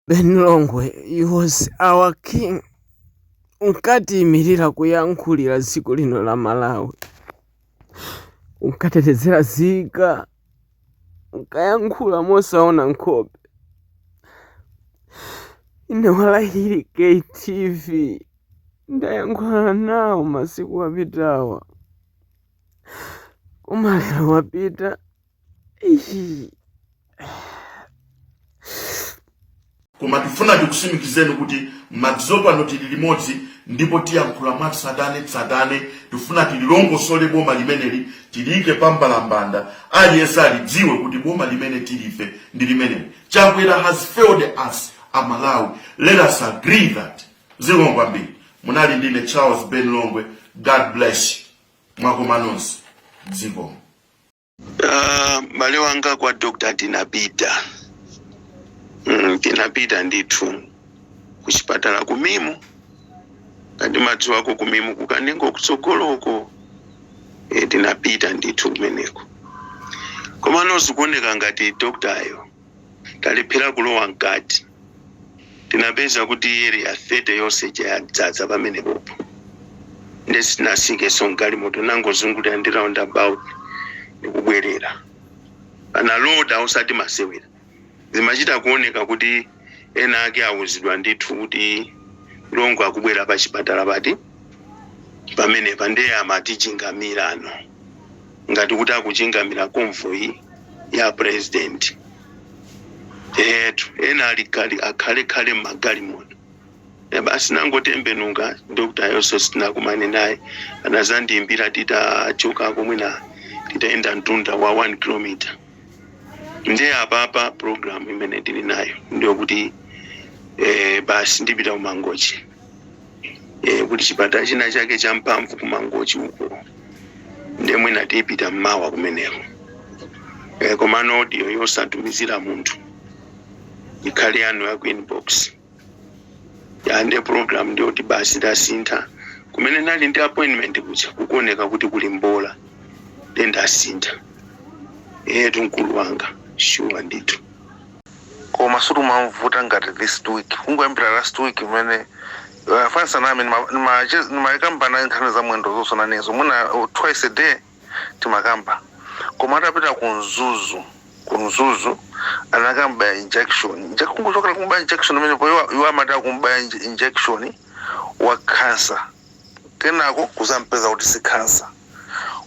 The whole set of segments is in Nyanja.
Ben Longwe he was our king unkatiyimirira kuyankhulira dziko lino la Malawi unkatetezera zika unkayankhula mosaona nkhope ine walahiri KTV ndayankhula nawo masiku apitawa koma lero wapita koma tifuna tikusimikizeni kuti madzulo pano tili limodzi ndipo tiyankhula mwatsatanetsatane tifuna tililongosole boma limeneli tiliyike pambalambanda aliyense alidziwe kuti boma limene tili ife ndi limeneli chakwera has failed us aMalawi let us agree that zikomo kwambiri munali ndine charles ben longwe god bless you mwakoma nonse zikomo Ah, m'bale wanga kwa dr tinapita mm, tinapita ndithu kuchipatala ku MIM ngati madziwako ku MIM ku Kanengo kutsogoloko e, tinapita ndithu kumeneko komano zikuoneka ngati doktayo talephera kulowa mkati, tinapeza kuti Area 30 yonse ija yadzadza pamenepopo. Nde sitinasikenso m'galimoto, tinangozungulira ndi roundabout ndi kubwerera. Analoda osati masewera. Zimachita kuoneka kuti ena ake auzidwa ndithu kuti Longwe akubwera pachipatala pati pamenepa, nde amatichingamirano. ngati kuti akuchingamira convoy ya president etu ena ali khalekhale m'magalimoto basi nangotembenuka doktayonso sitinakumane naye anazandiimbira titachoka koma mwina titayenda mtunda wa 1 kilometer nde apapa program imene tili nayo ndiyokuti eh, basi ndipita ku Mangochi e, kuti chipatala china chake champhamvu ku Mangochi uko ndiye mwina tipita mmawa kumeneko e, komano audio yosatumizira munthu ikhale yanu ya ku inbox ya nde program ndiyo kuti basi ndasintha kumene nali ndi appointment kuja kukuoneka kuti kuli mbola nde ndasintha etu mkulu wanga shuwa ndithu koma suti umamvuta ngati this week kungoyambira last week imene uh, fansa nami ndimakamba naye nkhani za mwendo zonso nanezo mwina uh, twice a day timakamba koma atapita ku mzuzu ku mzuzu anakam'baya injection Inje- kungochokera kum'baya injection imenepo iwo- iwo amati akum'baya inje- injection wa cancer kenako kuzampeza kuti si cancer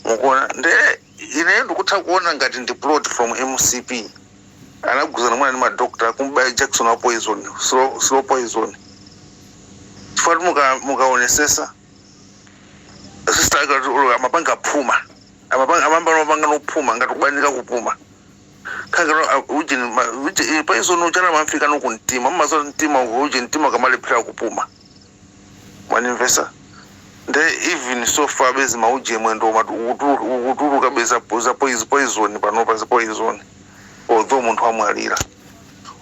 mukuona nde Ineyo ndikutha kuona ngati ndi plot from mcp anagwirizana mwina ndi ma doctor kumubaya jakisoni wa poison slow, slow poison chifukwa muka mukaonesesa sister ake ati olo amapanga phuma amapanga amamba amapanga nophuma ngati kubanika kupuma kanga ujeni ma- uje- eh, poison uchana umamfika ku mtima mmazo mtima uko uje mtima ukamalephera kupuma mwandimvesa nde even so far bezi mauje mwendo umati ukutulu- ukutuluka bezi za poiz- poison panopa za poison although munthu amwalira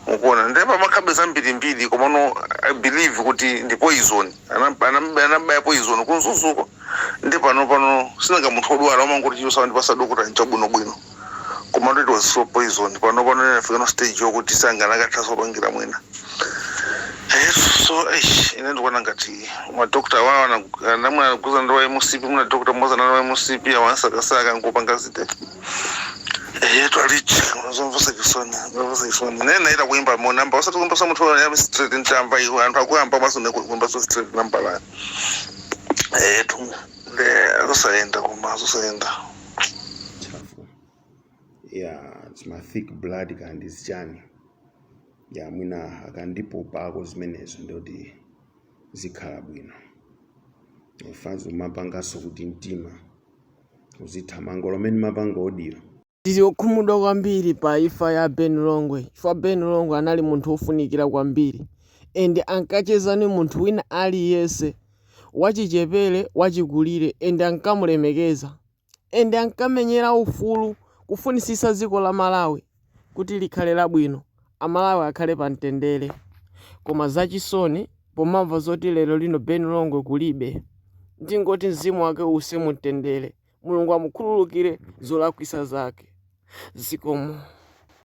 mukuona nde pamakhala zambirimbiri komano i believe kuti ndi poison Anam- anam- anambaya poison ku Mzuzuko ndi pano pano sinanga munthu odwala umangoti chilichonse wandipasa dokota nchabwinobwino Komano it was so poison panopano inafika stage yokuti sakanathaso kupangira mwina eyesu so eish ine ndikuona ngati ma doctor awawa anagu- ana- mwina anauzana ndi wa mcp mwina doctor mmodzi anali wa mcp awansakasaka nkupanga zite eyetu alichi zomvesa chisoni zomvesa chisoni naye naita kuimba mo namba osati kuimba sa munthu ya straight ntamba iwo anthu akuyamba maso ne kuimba so straight namba la eyetu nde zosayenda koma zosayenda ntchafu ya chima thick blood kaya ndi zichani ya mwina akandipopako zimenezo ndi zoti zikhala bwino fanzo mapanganso kuti mtima uzithamanga olo mmene mapanga audio Tili okhumudwa kwambiri pa imfa ya Ben Longwe chifukwa Ben Longwe anali munthu wofunikira kwambiri and ankacheza ndi munthu wina aliyense wachichepere, wachikulire, and ankamulemekeza and ankamenyera ufulu kufunisisa dziko la Malawi kuti likhale labwino amalawi akhale pa mtendere koma zachisoni pomamva zoti lero lino Ben Longwe kulibe ndingoti mzimu wake uuse mu mtendere Mulungu amukhululukire zolakwisa zake zikomo.